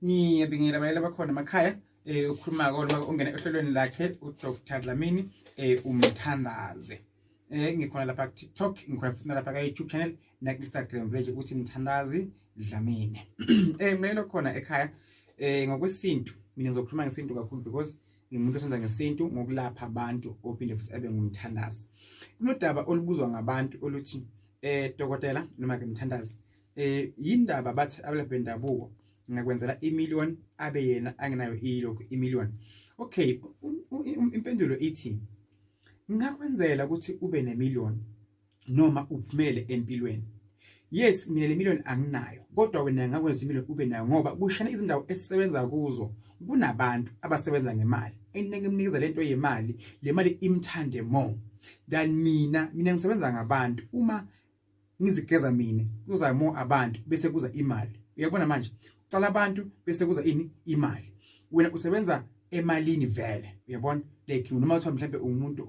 ngiyabingelela abayela bakhona emakhaya eh ukhuluma kodwa ungena ehlelweni lakhe uDr Dlamini eh umthandaze eh ngikhona lapha ku TikTok ngikhona futhi lapha ka YouTube channel na Instagram page uthi mthandazi Dlamini eh mlelo khona ekhaya eh ngokwesintu mina ngizokhuluma ngesintu kakhulu because ngimuntu osenza ngesintu ngokulapha abantu ophinde futhi abe ngumthandazi kunodaba olubuzwa ngabantu oluthi eh dokotela noma ke mthandazi eh yindaba bathi abelaphi bendabuko ngakwenzela imillion abe yena angenayo ilokhu imillion okay impendulo ithi ngakwenzela ukuthi ube nemillion noma uphumele empilweni yes mina le million anginayo kodwa wena ngakwenza imillion ube nayo ngoba kushana izindawo esisebenza kuzo kunabantu abasebenza ngemali enike mnikeza lento yemali le mali imthande more than mina mina ngisebenza ngabantu uma ngizigeza mina kuza more abantu bese kuza imali uyabona manje ucala abantu bese kuza ini imali wena usebenza emalini vele uyabona like noma kuthiwa mhlawumbe umuntu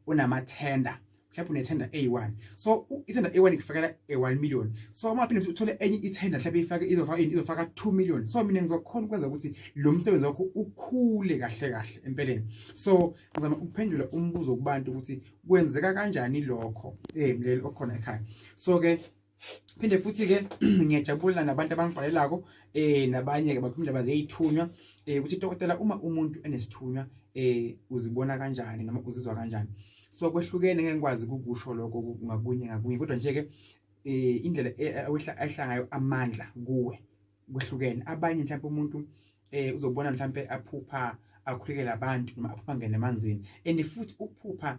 onamathenda mhlawumbe unethenda A1 so ithenda A1 ikufakela A1 million so uma phinde uthole enye ithenda mhlawumbe ifake izofaka ini izofaka 2 million so mina ngizokhona ukwenza ukuthi lo msebenzi wakho ukhule kahle kahle empeleni so ngizama ukuphendula umbuzo kubantu ukuthi kwenzeka kanjani lokho eh mleli okhona ekhaya so ke phinde futhi ke ngiyajabula nabantu abangibhalelako eh nabanye ke bakhuluma indaba zeyithunywa eh ukuthi dokotela uma umuntu enesithunywa eh uzibona kanjani noma uzizwa kanjani so kwehlukene ngeke ngikwazi ukukusho lokho ngakunye ngakunye kodwa nje ke eh indlela eh, ayihlangayo amandla kuwe kuhlukene abanye mhlawumbe umuntu eh uzobona mhlawumbe aphupha akhulekela abantu noma aphupha ngene emanzini and futhi ukuphupha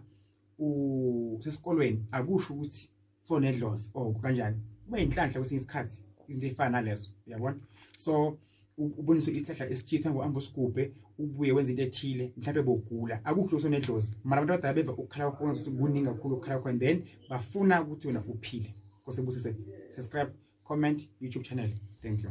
usesikolweni akusho ukuthi sonedlozi or oh, kanjani kube inhlanhla kwesinye isikhathi izinto efana nalezo uyabona so uboniswe isihlahla esithitha ngohamba usigubhe ubuye wenza into ethile mhlawumbe bogula akukho sonedlozi mara abantu abadala beva ukukhala kwakhona ukuthi kuningi kakhulu ukukhala kwakhona then bafuna ukuthi wena uphile kosebusise subscribe comment youtube channel thank you